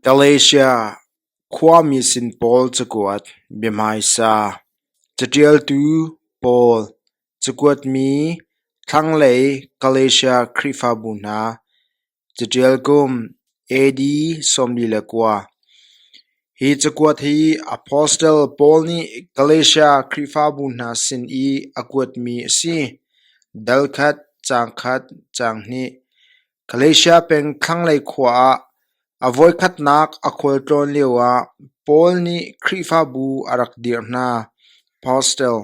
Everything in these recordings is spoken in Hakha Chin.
Galatia khuami sin pawl cakuat, biahmaisa, caṭialtu pawl, cakuatmi, thlanglei Galatia Khrihfabu hna, caṭial kum AD sawmli le kua. Hi cakuat hi apostle Paul nih Galatia Khrihfabu hna sin i a kuatmi a si, dal khat, caang khat, caang hnih. Galatia peng thlanglei khua ah a voikhatnak a khual tlawn lioah Paul nih Khrihfabu a rak dirh hna. Apostle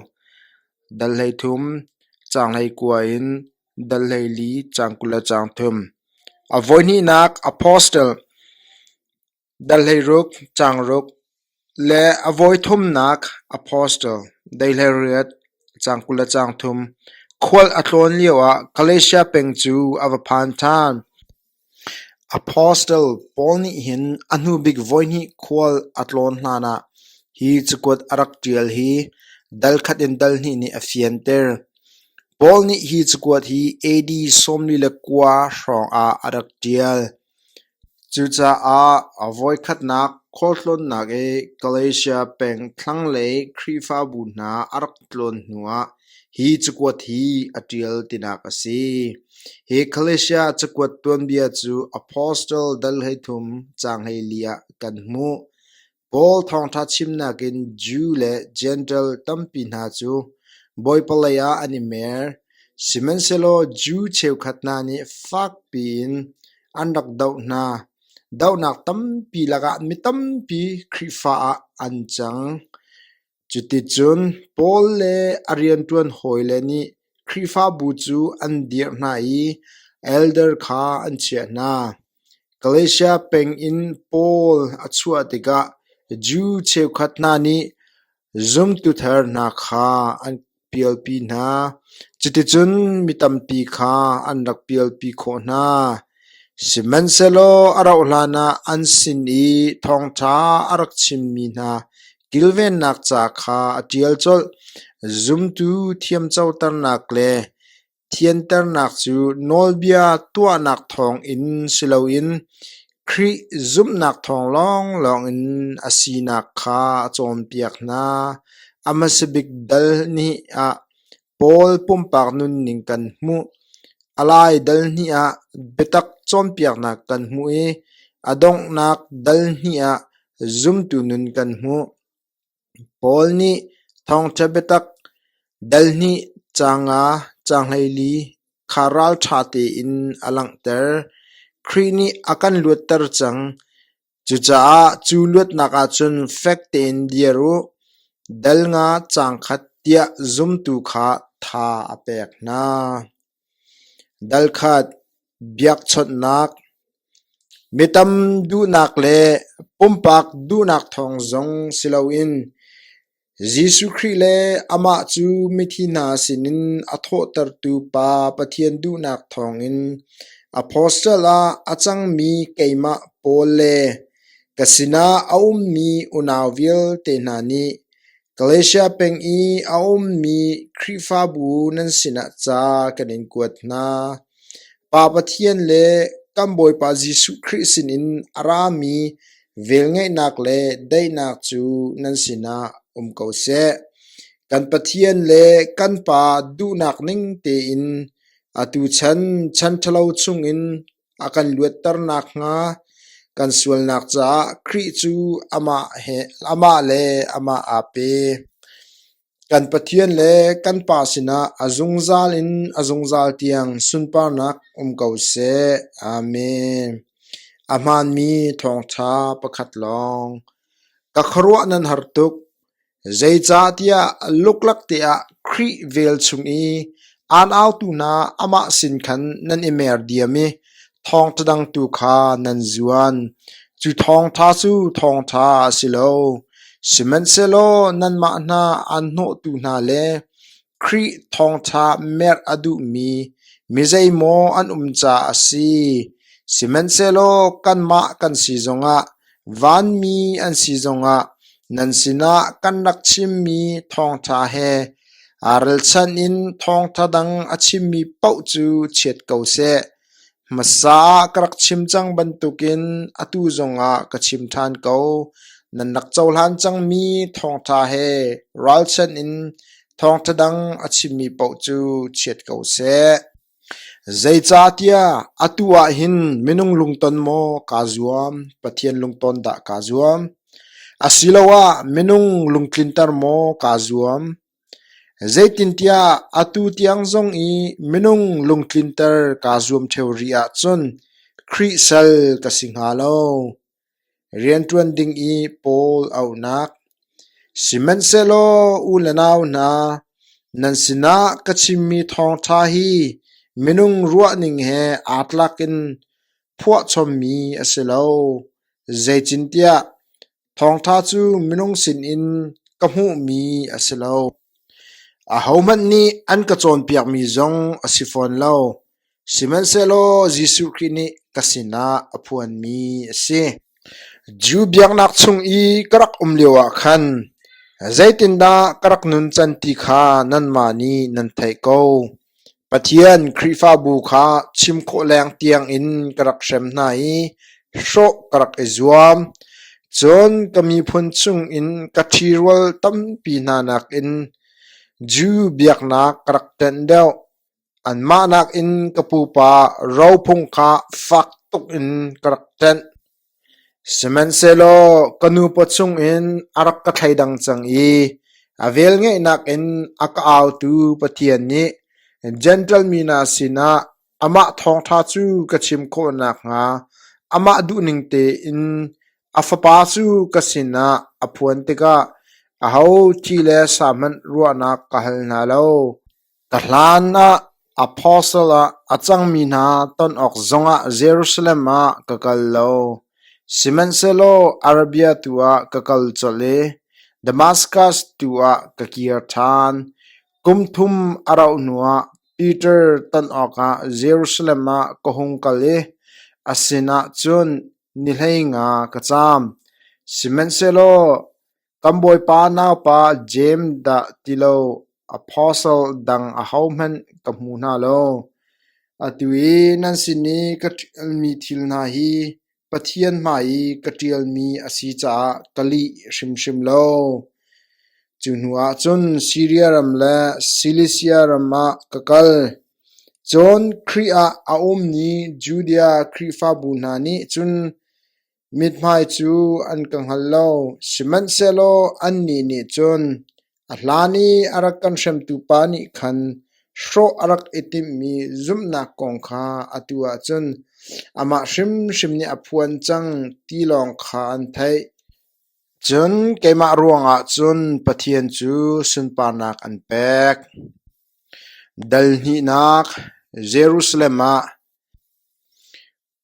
dal hleithum, caang hleikua in dal hleili, caang kul le caang thum. A voihnihnak apostle Darhleiruk, Caangruk le a vawithumnak Apostle, Daihleriat, Caang kul le caang thum, khual a tlawn lioah Galatia peng cu a va phan ṭhan. Apostle pawl nih hin a hnubik voihnih khual a tlawn hlanah hi cakuat a rak ṭial hi dal khat in dal hnih nih a fianter. Paul nih hi cakuat hi AD sawmli le kua hrawngah a rak ṭial. Cucaah a voikhatnak khualtlawnnak i Galatia peng thlanglei Khrihfabu hna a rak tlawn hnuah hi cakuat hi a ṭial tinak a si: Hi Galatia cakuat tuanbia cu Apostle dal hleithum caanghleili ah kan hmuh. Paul thawngṭha chimnak in Jew le Jentail tampi hna cu Bawipa lei ah an i mer, sihmanhsehlaw Jew cheukhat hna nih fakpi in an rak doh hna. Dohnak tampi lakah mi tampi Khrihfa ah an cang. Cuticun Paul le a rianṭuan hawile nih Khrihfabu cu an dirh hna i elder kha an chiah hna. Galatia peng in Paul a chuah tikah Jew cheukhat hna nih zumtu thar hna kha an pialpi hna. Cuticun mi tampi kha an rak pialpi khawh hna. Sihmanhsehlaw a rauhhlan ah an sin i thawngṭha a rak chimmi hna kilvennak ca kha a ṭial colh. Zumtu thiamcoternak le Thianternak cu nawlbia tuahnak thawngin si loin Khrih zumhnak thawng lawnglawng in a sinak kha a cawnpiak hna. A hmasa bik dal hnih ah Paul pumpak nunning kan hmuh. A lai dal hnih ah biatak cawnpiaknak kan hmuh i a donghnak dal hnih ah zumtu nun kan hmuh. Paul nih thawngṭha biatak, dalhnih ca nga canghlei kha ralṭha tein a langhter. Khrih nih a kan luatter cang. Cucaah cu luatnak ah cun fek tein dir u, dal nga cangkhat tiah zumtu kha tha a pek hna. Dalkhat biakchawnhnak, mi tam duhnak le pumpak duhnak thawng zong si loin Jesuh Khrih le amah cu mithi hna sinin a thawhtertu Pa Pathian duhnak thawngin apostle ah a cangmi keimah Paul le ka sinah a ummi unau vialte hna nih Malaysia peng i a ummi Khrihfabu nan sinah ca kan in kuat hna. Pa Pathian le kan Bawipa Jesuh Khrih sinin a rami velngeihnak le daihnak cu nan sinah um ko seh. Kan Pathian le kan Pa duhnak ning tein atu chan chan ṭhalo chungin A kan luatter nakhnga kan sualnak caah Khrih cu amah le amah aa pe. Kan Pathian le kan Pa sinah a zungzal in a zungzal tiang sunparnak um ko seh. Amen. A hmaanmi thawngṭha pakhat lawng. Ka khuaruah nan har tuk. Zeicahtiah luklak teah Khrih vel chung i aan autu hna amah sin khan nan i mer diam i thawngṭha dang tu kha nan zuan. Cu thawngṭha cu thawngṭha a si lo; sihmanhsehlaw nanmah hna aan hnawhtu hna le Khrih thawngṭha merh a duhmi mizeimaw an um caah a si, sihmanhsehlaw kanmah kan si zongah, vanmi an si zongah, nan sinah kan rak chimmi thawngṭha he aa ralchanh in thawngṭha dang a chimmi paoh cu chiat ko seh. Hmasa ah ka rak chim cang bantukin atu zongah ka chim ṭhan ko, nan rak cohlan cangmi thawngṭha he ralchanh in thawngṭha dang a chimmi paoh cu chiat ko seh. Zeicahtiah atu ah hin minung lungton maw kaa zuam, Pathian lungton dah kaa zuam? Asiloah minung lungtlinter maw kaa zuam? Zeitintiah atu tiang zong i minung lungtlinter kaa zuam ṭheo rih ahcun Khrih sal ka si hnga lo. Rianṭuan ding i Paul auhnak Sihmanhsehlaw u le nau hna, nan sinah ka chimmi thawngṭha hi minung ruahning he aa tlak in phuahchommi a si lo, zeitintiah Thawngṭha cu minung sinin ka hmuhmi a si lo; ahohmanh nih an ka cawnpiakmi zong a si fawn lo, sihmanhsehlaw Jesuh Khrih nih ka sinah a phuanmi a si. Jew biaknak chung i ka rak um lioah khan zeitindah ka rak nuncan ti kha nanmah nih nan theih ko. Pathian Khrihfabu kha chim khawh leng tiangin ka rak hrem hna i hrawh ka rak i zuam. Cun ka miphun chungin ka ṭhirual tampi hna nakin Jew biaknak ka rak tenh deuh. Anmah nakin ka pupa rophung kha fak tukin ka rak tenh. Sihmanhsehlaw ka nupa chungin a rak ka thleidang cang i a velngeihnak in a ka autu Pathian nih Jentail mi hna sinah amah thawngṭha cu ka chim khawh nakhnga amah duhning tein a Fapa cu ka sinah a phuan tikah aho thi le sa hmanh ruahnak ka hal hna lo. Ka hlan ah apostle ah a cangmi hna ton awk zongah Jerusalem ah ka kal lo, sihmanhsehlaw Arabia tu ah ka kal colh i Damaskas tu ah ka kir ṭhan. Kum thum a rauh hnuah Piter ton awkah Jerusalem ah ka hung kal i a sinah cun ni hleinga ka caam, sihmanhsehlaw Kan bawipa naupa Jeim dah ti lo apostle dang ahohmanh ka hmu hna lo, atu i nan sin i ka ṭialmi thil hna hi Pathian hmai i ka ṭialmi a si caah ka lih hrimhrim lo. Cu hnuah cun Siria ram le Silisia ram ah ka kal. Cun Khrih ah a ummi Judea Khrihfabu hna nih cun Mithmai cu an ka hngal lo, sihmanhsehlaw annih nih cun a hlan i a rak kan hremtu pa nih khan hrawh a rak i timhmi zumhnak kong kha atu ah cun amah hrimhrim nih a phuan cang ti lawng kha an theih. Cun keimah ruangah cun Pathian cu sunparnak an pek. Dal hnihnak Jerusalem ah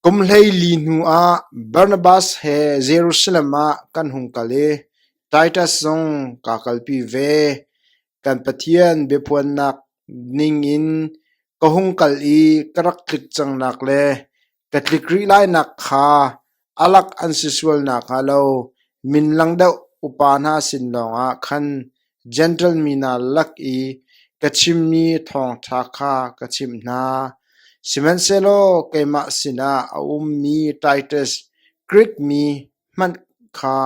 Kum hleili hnuah Barnabas he Jerusalem ah kan hung kal i Titus zong kaa kalpi ve. Kan Pathian biaphuannak ningin ka hung kal i ka rak tlik cangnak le ka tlik rih lainak kha a lak an si sual nakhnga lo min lang deuh upa hna sin lawngah khan Gentle mi hna lak i ka chimmi thawngṭha kha ka chimh hna, sihmanhsehlaw keimah sinah a ummi Titus, Grik mi hmanh kha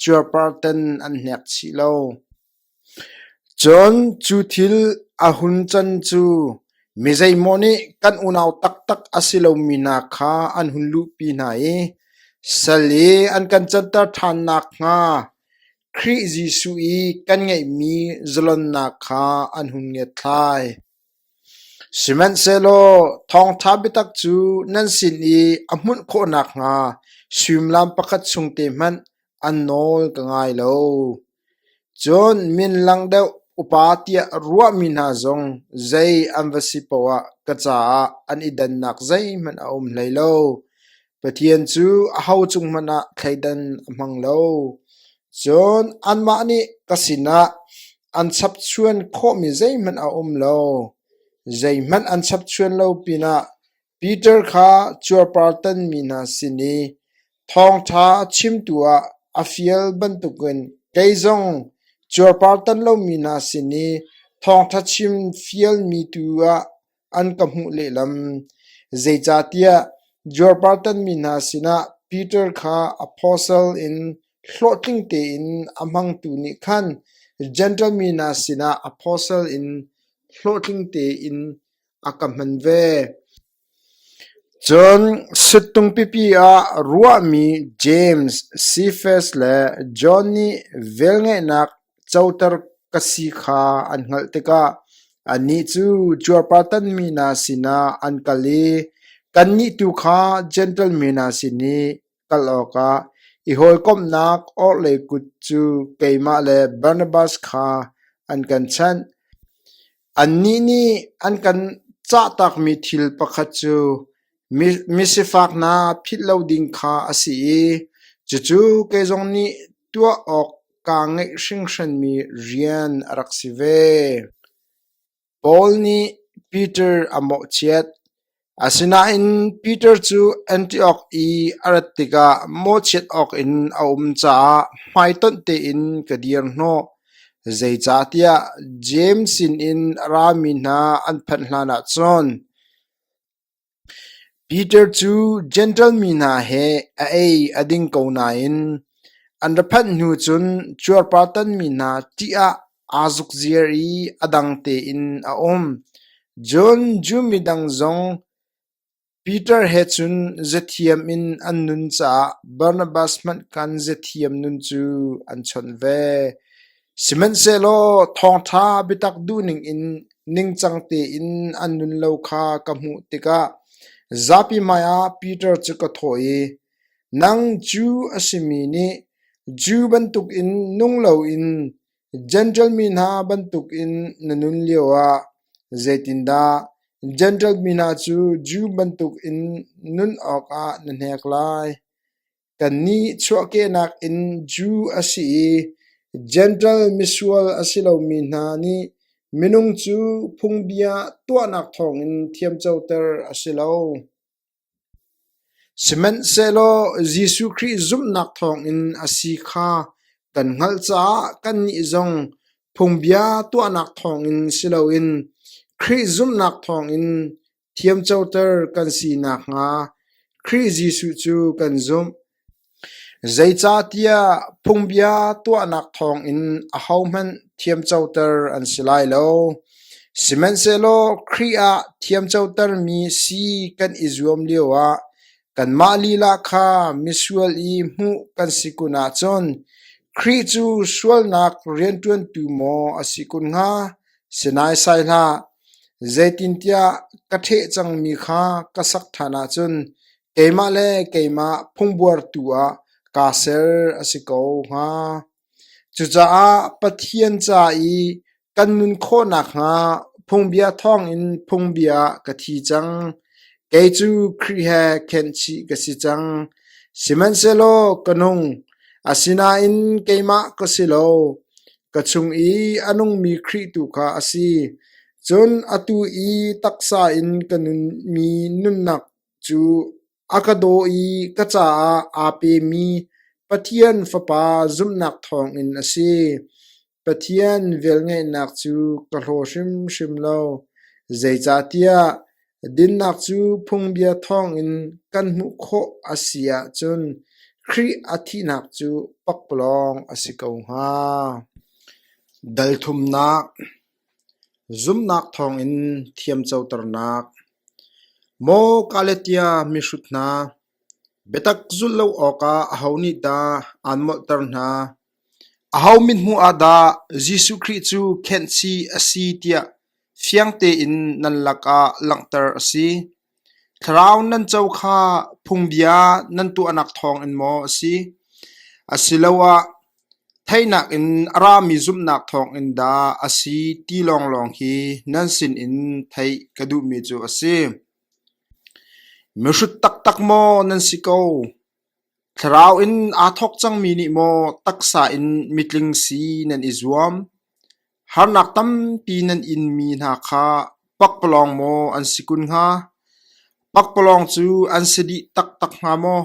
cuarparten an hnek chih lo. Cun cu thil a hun can cu mi zeimawh nih kan unau taktak a si lomi hna kha an hun luhpi hna i sal i an kan canter ṭhan nakhnga, Khrih Jesuh i kan ngeihmi zalonnak kha an hun ngiatthlai. Sihmanhsehlaw thawngṭha biatak cu nan sin i a hmunh khawh nakhnga suimilam pakhat chung te hmanh an nawl ka ngai lo. Cun min lang deuh upa tiah ruahmi hna zong zei an va si poah ka caah an i dannak zeihmanh a um hlei lo. Pathian cu aho cung hmanh ah thleidan a hmang lo, cun anmah nih ka sinah an chapchuan khawhmi zeihmanh a um lo. Zeihmanh an chapchuan lo pinah Piter kha cuarpartanmi hna sin i thawngṭha chimtu ah a fial bantukin kei zong cuarpartan lomi hna sin i thawngṭha chim fialmi tu ah an ka hmuh lehlam, zeicahtiah Jorpartan mi hna sinah Piter kha apostle in hlawhtling tein a hmangtu nih khan Jentail mi hna sinah apostle in hlawhtling tein a ka hman ve. Cun sittung pipi ah ruahmi James, Cephas le John nih velngeihnak Coter ka si kha an hngalh tikah annih cu cuarpartanmi hna sinah an kal i kannih tu kha Jentail mi hna sin i kal awkah i hawikomhnak orhlei kut cu keimah le Barnabas kha an kan chanh. Annih nih an kan cahtakmi thil pakhat cu Misifak hna philh lo ding kha a si i cucu kei zong nih tuah awk kaa ngeih hringhranmi rian a rak si ve. Paul nih Piter a mawhchiat, asinain Piter cu Antiok i a rat tikah mawhchiat awkin a um caah hmaitonh tein ka dir hnawh, zeicahtiah Jeim sinin a rami hna an phanh hlanah cun Peter cu Jentail mi hna he a ei a ding ko nain an ra phanh hnu cun cuarpartan mi hna ṭih ah aa zukziar i a dang tein a um. Cun Jew midang zong Peter he cun zethiam in an nun caah Barnabas hmanh khan zethiam nun cu an chawnh ve. Sihmanhsehlaw thawngṭha biatak duhning in ningcang tein an nun lo kha ka hmuh tikah zapi hmaiah Piter cu ka thawh i, “Nang Jew a simi nih Jew bantukin nung loin Jentail mi hna bantukin na nun lioah zeitindah Jentail mi hna cu Jew bantukin nun awkah na hnek lai? Kannih chuahkehnak in Jew a si i Jentail misual a si lomi hna nih minung cu phungbia tuahnak thawngin thiamcoter a si lo. Sihmanhsehlaw Jesuh Khrih zumhnak thawngin a si kha kan hngalh caah kannih zong phungbia tuahnak thawngin si loin Khrih zumhnak thawngin Thiamcoter kan si nakhnga Khrih Jesuh cu kan zumh. Zeicahtiah phungbia tuahnak thawngin ahohmanh thiamcoter an si lai lo. Sihmanhsehlaw Khrih ah thiamcotermi si kan i zuam lioah kanmah lila kha misual i hmuh kan si kun ahcun Khrih cu sualnak rianṭuantu maw a si kun hnga? Si naisai hlah, zeitintiah ka ṭheh cangmi kha ka sak ṭhan ahcun keimah le keimah phungbuartu ah kaa ser a si ko hnga. Cucaah Pathian ca i kan nun khawh nakhnga phungbia thawngin phungbia ka thi cang. Kei cu Khrih he khenhchih ka si cang. Sihmanhsehlaw ka nung, asinain keimah ka si lo. Ka chung i a nungmi Khrih tu kha a si, cun atu i taksa in ka nunmi nunnak cu a ka daw i ka caah aa pemi Pathian Fapa zumhnak thawngin a si. Pathian velngeihnak cu ka hlaw hrimhrim lo, zeicahtiah Dinnak cu phungbia thawngin kan hmuh khawh a si ahcun Khrih a thihnak cu pakpalawng a si ko hnga. Dalthumnak Zumnak thawngin thiamcoternak Maw Galatia mihrut hna, biatak zulh lo awkah aho nih dah aan molhter hna? Aho mithmuh ah dah Jesuh Khrih cu khenhchih a si tiah fiang tein nan lakah langhter a si. Thlarau nan co kha phungbia nan tuahnak thawngin maw a si, asiloah theihnak in a rami zumhnak thawngin dah a si ti lawnglawng hi nan sinin theih ka duhmi cu a si. Mihrut taktak maw nan si ko? Thlarau in aa thawk cangmi nih maw taksa in mitling si nan i zuam? Harnak tampi nan inmi hna kha pakpalawng maw an si kun hnga? Pakpalawng cu an si dih taktak hnga maw?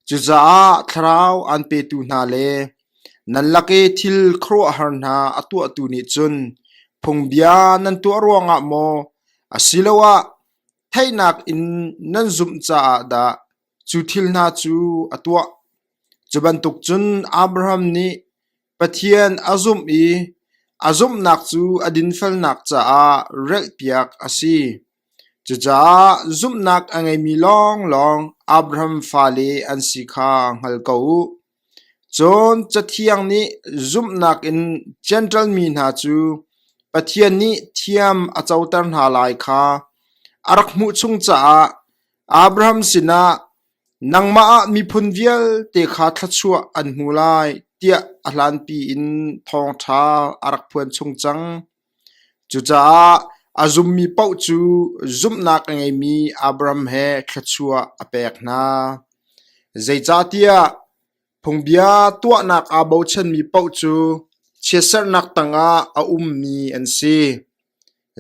Cucaah Thlarau aan petu hna le nan lake thil khuaruahhar hna a tuahtu nih cun phungbia nan tuah ruangah maw asiloah theihnak in nan zumh caah dah? Cu thil hna cu a tuah. Cu bantuk cun Abraham nih Pathian a zumh i a zumhnak cu a dinfelnak caah relhpiak a si. Cucaah zumhnak a ngeimi lawnglawng Abraham fale an si kha hngal ko u. Cun Cathiang nih zumhnak in Jentail mi hna cu Pathian nih thiam a coter hna lai kha a rak hmuh chung caah Abraham sinah, “Nangmah ah miphun vialte kha thluachuah an hmu lai,” tiah a hlanpi in thawngṭha a rak phuan chung cang. Cucaah a zummi paoh cu zumhnak a ngeimi Abram he thluachuah a pek hna. Zeicahtiah phungbia tuahnak aa bochanmi paoh cu chiatserhnak tangah a ummi an si.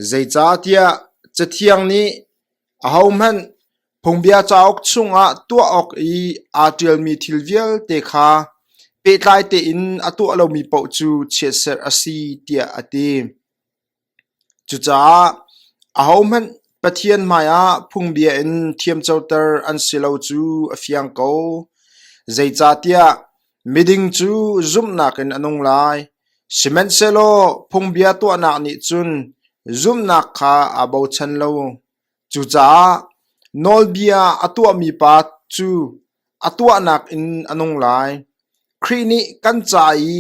Zeicahtiah Cathiang nih, Ahohmanh Phungbia cauk chungah tuah awk i aa ṭialmi thil vialte kha pehtlai tein a tuah lomi paoh cu chiatserh a si tiah a ti. Cucaah ahohmanh Pathian hmaiah phungbia in thiamcoter an si lo cu a fiang ko. Zeicahtiah miding cu zumhnak in a nung lai, sihmanhsehlaw phungbia tuahnak nih cun zumhnak kha aa bochan lo. Cucaah nawlbia a tuahmi pa cu a tuahnak in a nung lai. Khrih nih kan ca i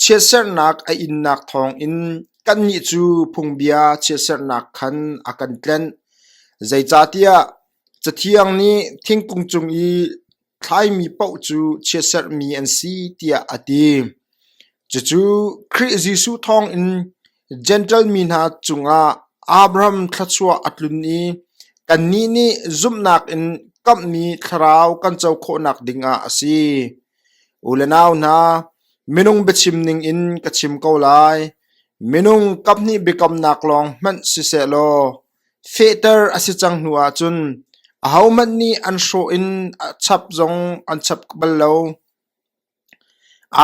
chiatserhnak a innak thawngin kannih cu phungbia chiatserhnak khan a kan tlenh. Zeicahtiah Cathiang nih thingkung cung i thlaimi paoh cu chiaserhmi an si tiah a ti. Cucu Khrih Jesuh thawngin Jentail mi hna cungah Abraham thluachuah a tlun i kannih nih zumhnak in kamhmi thlarau kan co khawhnak dingah a si. U le nau hna, minung biachim ningin ka chim ko lai. Minung kaphnih biakamnak lawng hmanh siseh law, fehter a si cang hnu ahcun ahohmanh nih an hrawh in a chap zong an chap bal lo.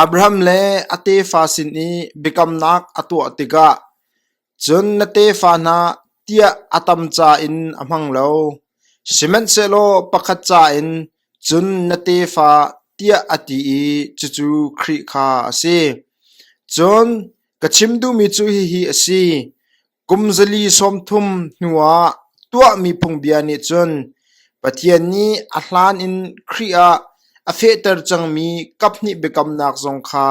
Abraham le a tefa sin i biakamnak a tuah tikah cun na tefa hna tiah a tam ca in a hmang lo, sihmanhsehlaw pakhat ca in cun na tefa tiah a ti i cucu Khrih kha a si. Cun ka chim duhmi cu hihi a si: Kum zali sawmthum hnuah tuahmi phungbia nih cun Pathian nih a hlan in Khrih ah a fehter cangmi kaphnih biakamnak zong kha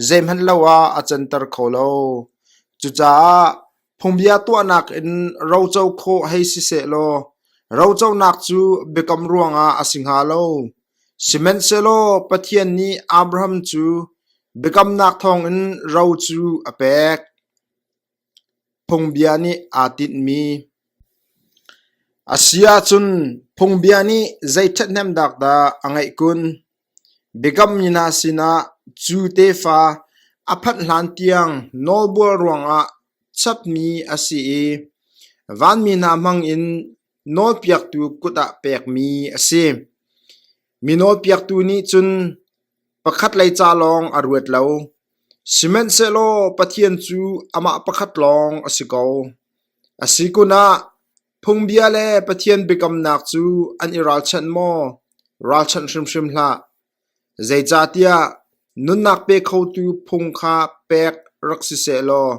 zeihmanh lo ah a canter kho lo. Cucaah phungbia tuahnak in roco khawh hei siseh law roconak cu biakam ruangah a si hnga lo. Sihmanhsehlaw Pathian nih Abraham cu biakamnak thawngin ro cu a pek. Phungbia nih aa tinhmi a si ahcun phungbia nih zei ṭhathnemnak dah a ngeih kun? Biakam mina sinah cu tefa a phanh hlan tiang nawlbual ruangah chapmi a si i vanmi hna hmangin nawlpiaktu kut ah pekmi a si. Mi nawlpiaktu nih cun pakhatlei ca lawng a ruat lo, sihmanhsehlaw Pathian cu amah pakhat lawng a si ko. A si kun ah phungbia le Pathian biakamnak cu an i ralchanh maw? Ralchanh hrimhrim hlah. Zeicahtiah nunnak pe khotu phung kha pek rak si seh law,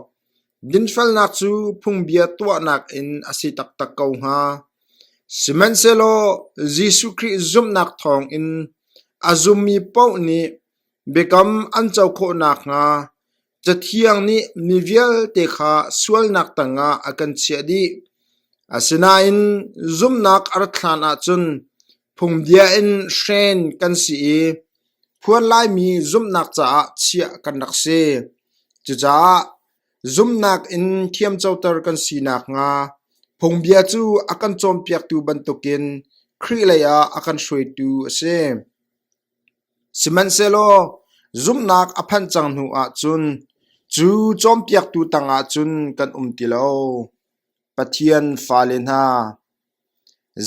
Dinfelnak cu phungbia tuahnak in a si taktak ko hnga. Sihmanhsehlaw Jesuh Khrih zumhnak thawngin a zummi paoh nih biakam an co khawh nakhnga Cathiang nih mi vialte kha sualnak tangah a kan chiah dih. Asinain zumhnak a rat hlanah cun Phungbia in hren kan si i phuan Laimi zumhnak caah chiah kan rak si. Cucaah zumhnak in thiamcoter kan si nakhnga phungbia cu a kan cawnpiaktu bantukin Khrih leiah a kan hruaitu a si. Sihmanhsehlaw zumhnak a phanh cang hnu ahcun cu cawnpiaktu tangah cun kan um ti lo. Pathian fale hna,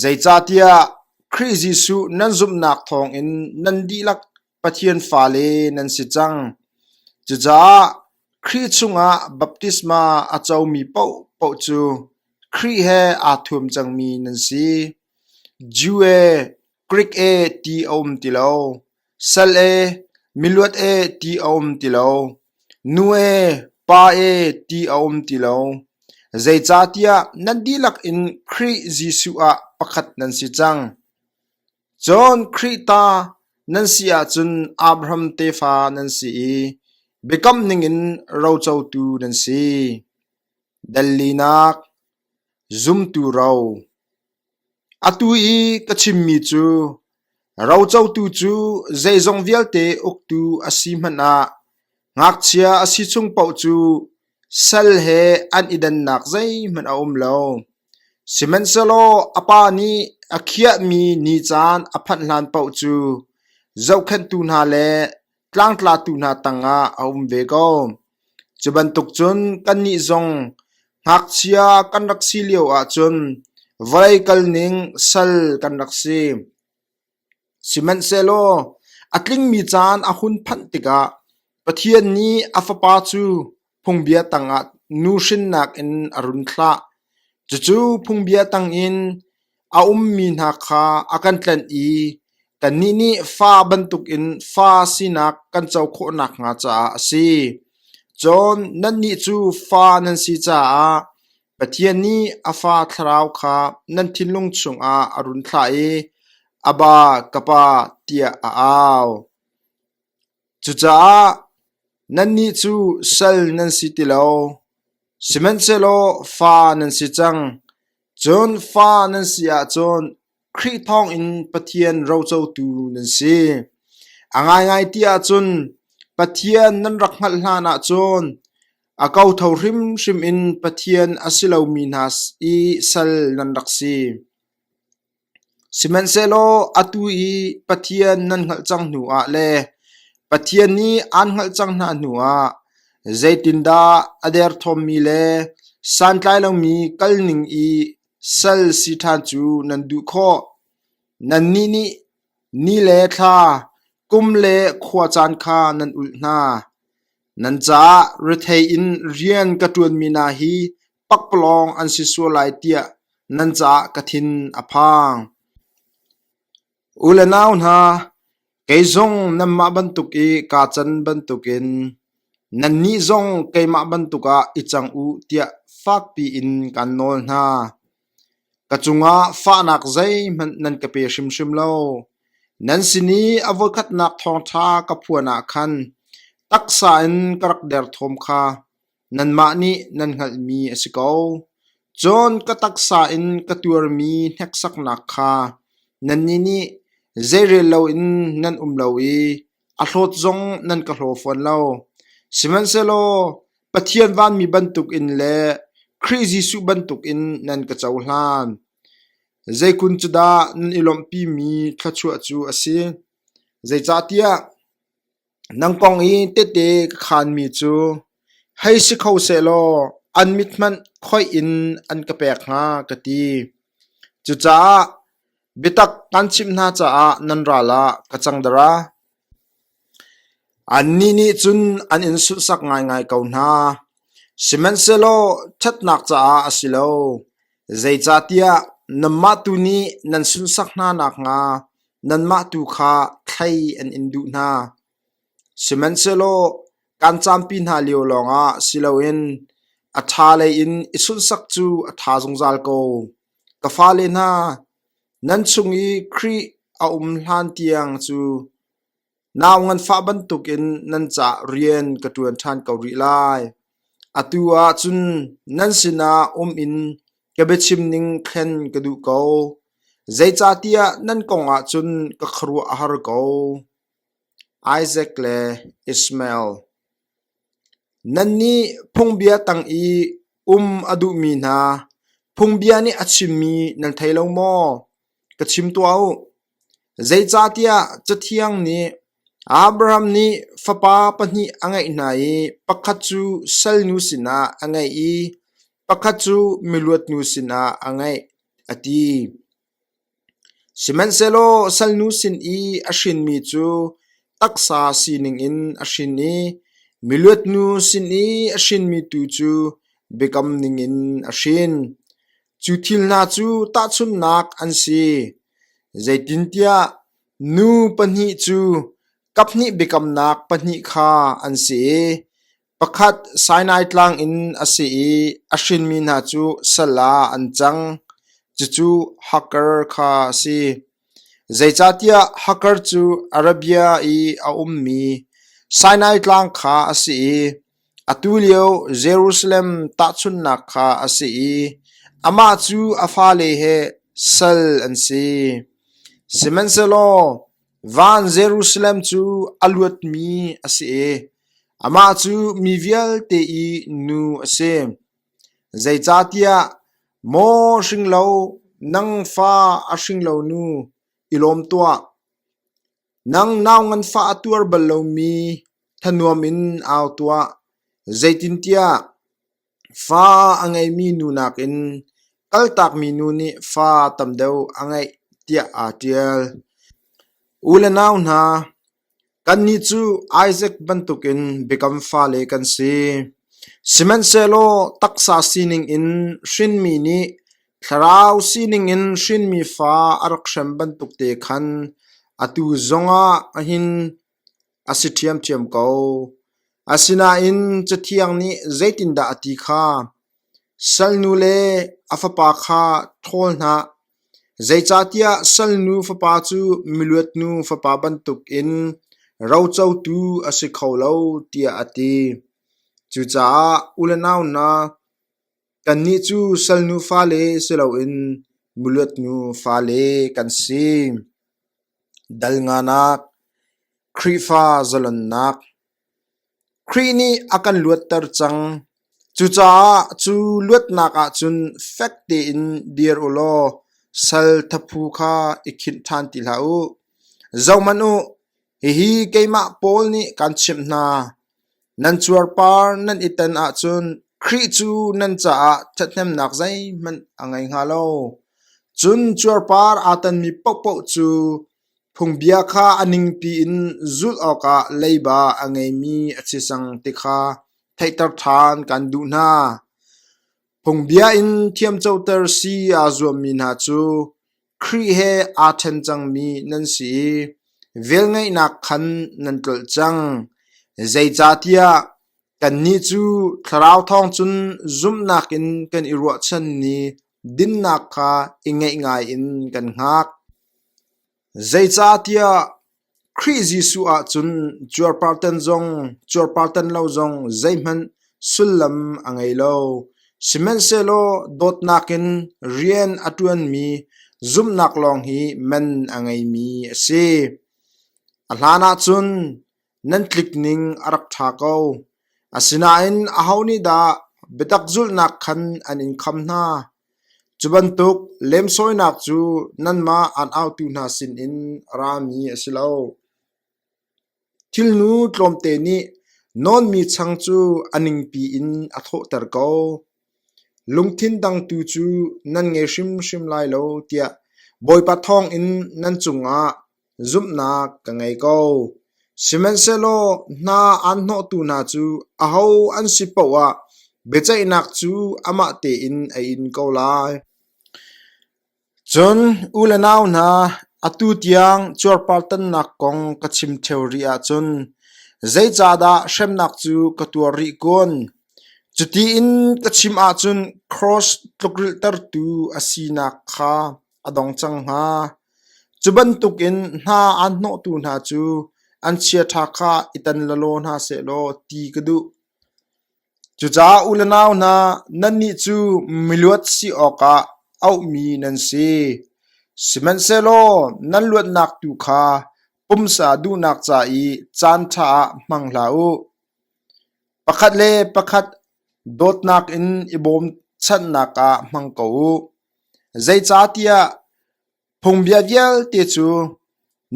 Zeicahtiah Khrih Jesuh nan zumhnak thawngin nan dihlak Pathian fale nan si cang. Cucaah Khrih chungah baptisma a comi paohpaoh cu Khrih he aa thuam cangmi nan si. Jew e, Grik ee ti a um ti lo, sal ee, miluat ee ti a um ti lo, nu ee, pa ee ti a um ti lo, zeicahtiah nan dihlak in Khrih Jesuh ah pakhat nan si cang. Cun Khrih ta nan si ahcun Abraham tefa nan si i biakam ningin rocotu nan si. Dellinak, zumtu ro. Atu i ka chimmi cu rocotu cu zeizong vialte uktu a si hmanh ah ngakchia a si chung paoh cu sal he an i dannak zeihmanh a um lo. Sihmanhsehlaw a pa nih a khiahmi ni caan a phanh hlan paoh cu zohkhenhtu hna le tlangtlatu hna tangah a um ve ko. Cu bantuk cun kannih zong ngakchia kan rak si lio ahcun vawlei kalning sal kan rak si. Sihmanhsehlaw a tlingmi caan a hun phanh tikah Pathian nih a Fapa cu Phungbia tangah nu hrinnak in a run thlah, cucu phungbia tang in a ummi hna kha a kan tlanh i kannih nih fa bantukin fa sinak kan co khawh nakhnga caah a si. Cun nannih cu fa nan si caah Pathian nih a Fa Thlarau kha nan thinlung chungah a run thlah i, Abba, ka Pa, tiah a au. Cucaah nannih cu sal nan si ti lo; sihmanhsehlaw fa nan si cang. Cun fa nan si ahcun Khrih thawngin Pathian rocotu nan si. A ngaingai ti ahcun Pathian nan rak hngalh hlanah cun a kotho hrimhrim in Pathian a si lomi hna i sal nan rak si. Sihmanhsehlaw atu i Pathian nan hngalh cang hnuah le Pathian nih aan hngalh cang hna hnuah zeitindah a derthawmmi le santlai lomi kalning i sal si ṭhan cu nan duh khawh? Nannih nih ni le thla, kum le khua caan kha nan ulh hna. Nan caah rethei in rian ka ṭuanmi hna hi pakpalawng an si sual lai tiah nan caah ka thin a phang. U le nau hna, kei zong nanmah bantuk i kaa can bantukin nannih zong keimah bantuk ah i cang u tiah fakpi in kan nawl hna. Ka cungah fahnak zeihmanh nan ka pe hrimhrim lo. Nan sin i a voikhatnak thawngṭha ka phuan ah khan taksa in ka rak der thawm kha Nanmah nih nan hngalhmi a si ko, cun ka taksa in ka tuarmi hneksaknak kha nannih nih zeirel loin nan um lo i a hlawt zong nan ka hlaw fawn lo. Sihmanhsehlaw Pathian vanmi bantukin le Khrih Jesuh bantukin nan ka cohlan. Zeikun cu dah nan i lawmhpimi thluachuah cu a si? Zeicahtiah Nang kong i tehte ka khaanmi cu hei si kho sehlaw an mit hmanh khoih in an ka pek hnga, ka ti. Cucaah biatak kan chimh hna caah nan ral ah ka cang dara? Annih nih cun an in sunsak ngaingai ko hna. Sihmanhsehlaw ṭhatnak caah a si lo, zeicahtiah nanmah tu nih nan sunsak hna nakhnga Nanmah tu kha thlei an in duh hna; sihmanhsehlaw kan campi hna lio lawngah si loin a ṭha lei in i sunsak cu a ṭha zungzal ko. Ka fale hna, nan chung i Khrih a um hlan tiang cu Nau nganfah bantukin nan ca'h rian ka ṭuan ṭhan ko rih lai. Atu ahcun nan sinah um in ka biachim ning thlen ka duh ko. Zeicahtiah nan kongah cun ka khuaruah a har ko. Isaac le Ishmael Nannih phungbia tang i um a duhmi hna, phungbia nih a chimmi nan thei lo maw? Ka chim tuah u. Zeicahtiah Cathiang nih Abraham nih fapa pahnih a ngeih hna i pakhat cu salnu sinah a ngeih i pakhat cu miluatnu sinah a ngeih, a ti. Sihmanhsehlaw salnu sin i a hrinmi cu taksa sining in a hrin i miluatnu sin i a hrinmi tu cu biakam ningin a hrin. Cu thil hna cu tahchunhnak an si, zeitintiah nu pahnih cu kaphnih biakamnak pahnih kha an si i pakhat Sinai tlang in a si i a hrinmi hna cu sal ah an cang, cucu Hakkar kha a si. Zeicahtiah Hakkar cu Arabia i a ummi Sinai tlang kha a si i Atulio Jerusalem tahchunhnak kha a si i amah cu a fale he sal an si. Sihmanhsehlaw van Jerusalem cu a luatmi a si i amah cu mi vialte i nu a si. Zeicahtiah maw hringlo, nang fa a hringlo nu, i lawm tuah. Nang nau nganfah a tuar bal lomi thanuam in au tuah, zeitintiah fa a ngeimi nu nakin kaltakmi nu nih fa tam deuh a ngeih tiah aa ṭial. U le nau hna, kannih cu Isak bantukin biakam fale kan si. Sihmanhsehlaw taksa sining in hrinmi nih Thlarau sining in hrinmi fa a rak hrem bantukte khan atu zongah hin a si ṭhiamṭhiam ko. Asinain Cathiang nih zeitindah a ti kha, “Salnu le a fapa kha ṭhawl hna, zeicahtiah salnu fapa cu miluatnu fapa bantukin rocotu a si kho lo,” tiah a ti. Cucaah u le nau hna, Kannih cu sal nufa le si loin miluat nufa le kan si. Dal nganak, Khrihfa zalonnak. Khrih nih a kan luatter cang. Cucaah cu luatnak ahcun fek tein dir u law sal thaphu kha i khinh ṭhan ti hlah u. Zohhmanh u, hihi keimah Paul nih kaan chimh hna. Nan cuarpar nan i tan ahcun Khrih cu nan caah ṭhathnemnak zeihmanh a ngei hnga lo. Cun cuarpar aa tanmi paohpaoh cu phungbia kha a ningpi in zulh awkah leiba a ngeimi a si cang ti kha theihter ṭhan kan duh hna. Phungbia in thiamcoter si aa zuammi hna cu Khrih he aa ṭhen cangmi nan si i velngeihnak khan nan tlolh cang. Zeicahtiah kannih cu Thlarau thawng cun zumhnak in kan i ruahchan ni dinnak kha i ngeih ngaiin kan hngak. Zeicahtiah Khrih Jesuh ahcun cuarpartan zong cuarpartan lo zong zeihmanh sullam a ngei lo, sihmanhsehlaw dawtnak in rian a ṭuanmi zumhnak lawng hi men a ngeimi a si. A hlanah cun nan tlikning a rak ṭha ko. Asinain aho nih dah biatak zulhnak khan an in kham hna? Cu bantuk lemsawinak cu nanmah an autu hna sinin a rami a si lo. Thilnu tlawmte nih nawnmi chang cu a ningpi in a thawhter ko; lungthin dang tu cu nan ngei hrimhrim lai lo, tiah Bawipa thawngin nan cungah Zumhnak ka ngei ko, sihmanhsehlaw hna aan hnawhtu hna cu aho an si paoh ah biaceihnak cu amah tein a in ko lai. Cun u le nau hna, atu tiang cuarpartannak kong ka chim ṭheo rih ahcun zeicahdah hremnak cu ka tuar rih kun? Cuti in ka chim ahcun kraws tlukrilhtertu a sinak kha Cu bantukin hna an hnawhtu hna cu an chiaṭha kha i tan lalaw hna sehlaw ti ka duh. Cucaah u le nau hna, nannih cu miluat si awkah auhmi nan si. Sihmanhsehlaw nan luatnak tu kha pumsa duhnak ca i caanṭha ah hmang hlah u. Pakhat le pakhat dawtnak in i bawmchanhnak ah hmang ko u. Zeicahtiah phungbia vialte cu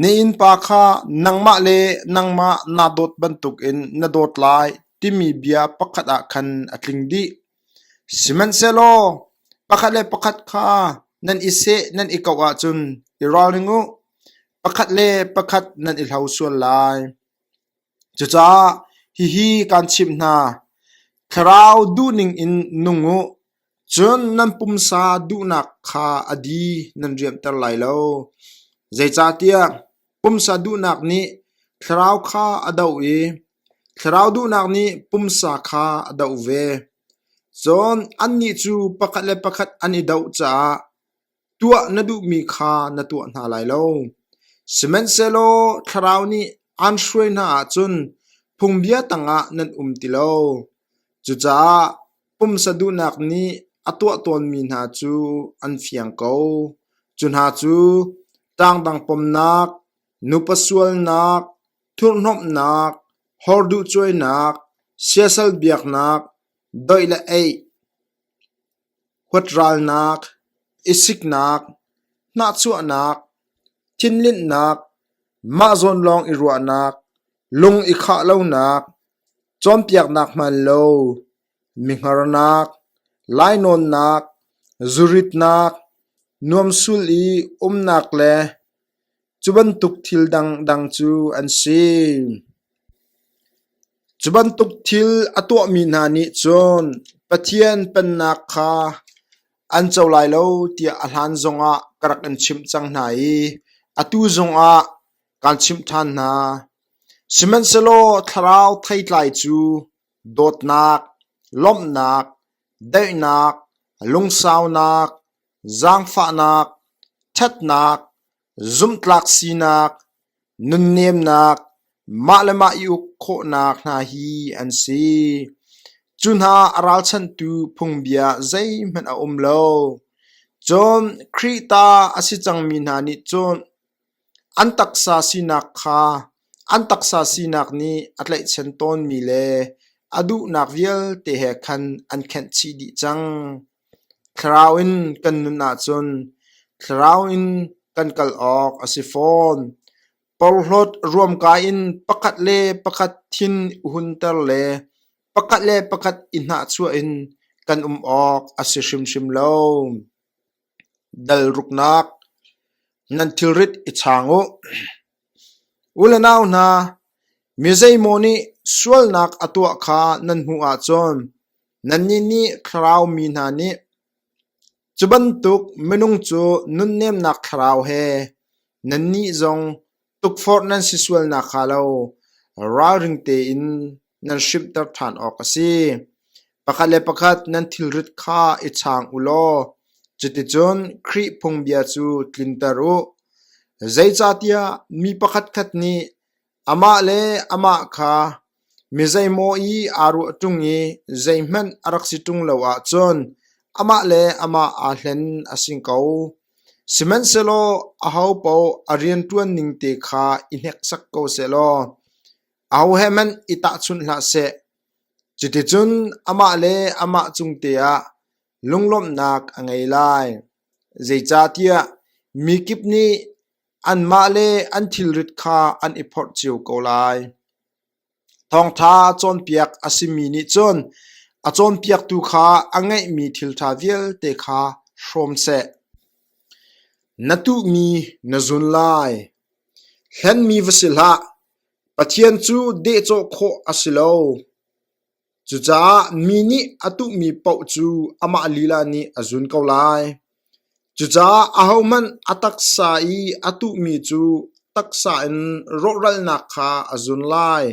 na innpa kha nangmah le nangmah naa dawt bantukin na dawt lai timi bia pakhat ah khan a tling dih. Sihmanhsehlaw pakhat le pakhat kha nan i seh nan i koh ahcun i ralring u, pakhat le pakhat nan i hlo sual lai. Cucaah hihi kaan chimh hna: Thlarau duhning in nung u. Cun nan pumsa duhnak kha a di nan riamhter lai lo, zeicahtiah pumsa duhnak nih thlarau kha a doh i thlarau duhnak nih pumsa kha a doh ve. Cun annih cu pakhat le pakhat an i doh caah, Tuah na duhmi kha na tuah hna lai lo, sihmanhsehlaw Thlarau nih aan hruai hna ahcun phungbia tangah nan um ti lo. Cucaah pumsa duhnak nih a tuah tawnmi hna cu an fiang ko. Cu hna cu tangdang pomnak, nupa sualnak, thurhnomhnak, horduhcuainak, siasal biaknak, doih le eih, huat ralnak, i siknak, hnahchuahnak, thinlinhnak, mahzawn lawng i ruahnak, lung i khah lonak, cawnpiaknak hmaan lo, mihngarnak, lainawnnak, zuritnak, nuamsul i umnak le Cu bantuk thil a tuahmi hna nih cun Pathian Pennak kha an co lai lo tiah a hlan zongah ka rak in chimh cang hna i atu zongah kaan chimh ṭhan hna. Sihmanhsehlaw thlarau theitlai cu dawtnak, lawmhnak, daihnak, lungsaunak, Zaangfahnak, ṭhatnak, zumhtlak sinak, nunnemnak, mah le mah i uk khawhnak hna hi an si. Cu hna a ralchanhtu phungbia zeihmanh a um lo. Cun Khrih ta a si cangmi hna nih cun An taksa sinak kha an taksa sinak nih a tlaihchan tawnmi le a duhnak vialte he khan an khenh chih dih cang. Thlarau in kan nun ahcun thlarau in kan kal awk a si fawn. Porhlawt ruamkai in pakhat le pakhat thin i hunter le pakhat le pakhat i hnahchuah in kan um awk a si hrimhrim lo. Dal ruknak, nan thilrit i chang u! U le nau hna, mi zeimaw nih sualnak a tuah kha nan hmuh ahcun nannih nih thlarau mi hna nih cu bantuk minung cu nunnemnak thlarau he nannih zong Tukforh nan si sual nakhnga lo ralring tein nan hrimhter ṭhan awk a si. Pakhat le pakhat nan thilrit kha i chang u law cuticun Khrih phungbia cu tlinter u. Zeicahtiah mi pakhatkhat nih amah le amah kha Mi zeimaw i aa ruah ṭung i zeihmanh a rak si ṭung lo ahcun amah le amah aa hlen a si ko. Sihmanhsehlaw ahopaoh a rian ṭuan ning te kha i hneksak ko sehlaw aho he hmanh i tahchunh hlah seh. Cuticun amah le amah cung te ah lunglawmhnak a ngei lai. Zeicahtiah mi kip nih Anmahle an thilrit kha an i phorh cio ko lai. Thawngṭha cawnpiak a simi nih cun a cawnpiaktu kha a ngeihmi thilṭha vialte kha hrawm seh. Na tuhmi na zun lai. Hlenmi va si hlah. Pathian cu dehcawh khawh a si lo. Cucaah mi nih a tuhmi paoh cu amah lila nih a zun ko lai. Cucaah ahohmanh a taksa i a tuhmi cu taksa in rawhralnak kha a zun lai.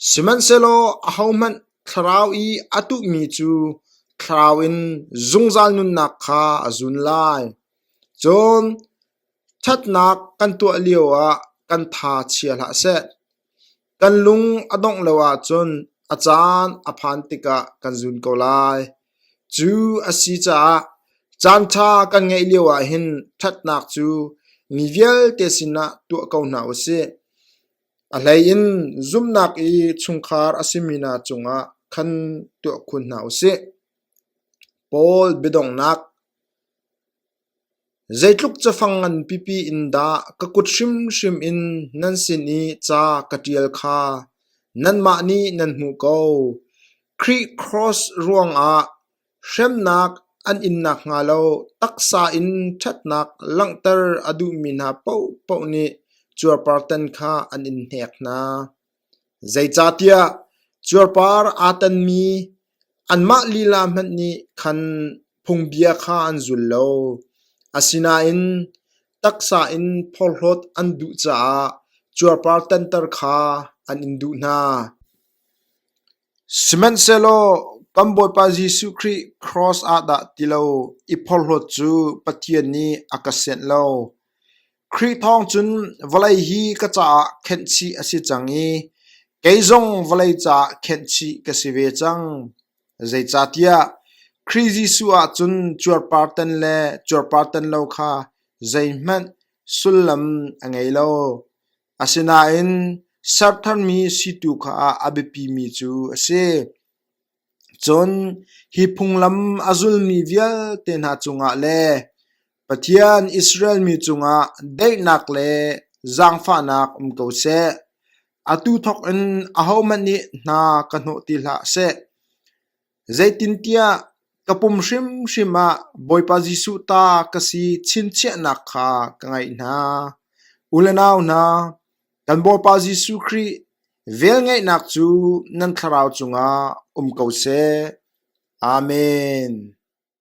Sihmanhsehlaw ahohmanh thlarau i a tuhmi cu thlarau in zungzal nunnak kha a zun lai. Cun ṭhatnak kan tuah lioah kan tha chia hlah seh. Kan lung a dongh lo ahcun a caan a phan tikah kan zun ko lai. Cu a si caah caanṭha kan ngeih lio ahhin ṭhatnak cu mi vialte sinah tuah ko hna u sih. A hleiin zumhnak i chungkhar a simi hna cungah khan tuah khun hna u sih. Paul biadongnak Zeitluk cafang ngan pipi in dah ka kut hrimhrim in nan sin i ca ka ṭial kha nanmah nih nan hmuh ko. Khrih Kross ruangah hremnak an in nakhnga lo taksa in ṭhatnak langhter a duhmi hna paohpaoh nih cuarpartan kha an in hnek hna. Zeicahtiah cuarpar aa tanmi anmah lila hmanh nih khan phungbia kha an zul lo. Asinain taksa in phorhlawt an duh caah cuarpar tanter kha an in duh hna. Sihmanhsehlaw kan Bawipa Jesuh Khrih kraws ah dah ti lo i phorhlawt cu Pathian nih a ka sianh lo. Khrih thawng cun vawlei hi ka caah khenhchih a si cang i kei zong vawlei caah khenhchih ka si ve cang. Zeicahtiah Khrih Jesuh ah cun cuarpartan le cuarpartan lo kha zeihmanh sullam a ngei lo. Asinain sertharmi si tu kha a biapimi cu a si. Cun hi phunglam a zulmi vialte hna cungah le Pathian Israel mi cungah daihnak le zaangfahnak um ko seh. Atu thawkin ahohmanh nih hna ka hnawh ti hlah seh. Zeitintiah ka pum hrimhrim ah Bawipa Jesuh ta ka si chinchiahnak kha ka ngaih hna. U le nau hna, Kan Bawipa Jesuh Khrih velngeihnak cu nan thlarau cungah um ko seh. Amen.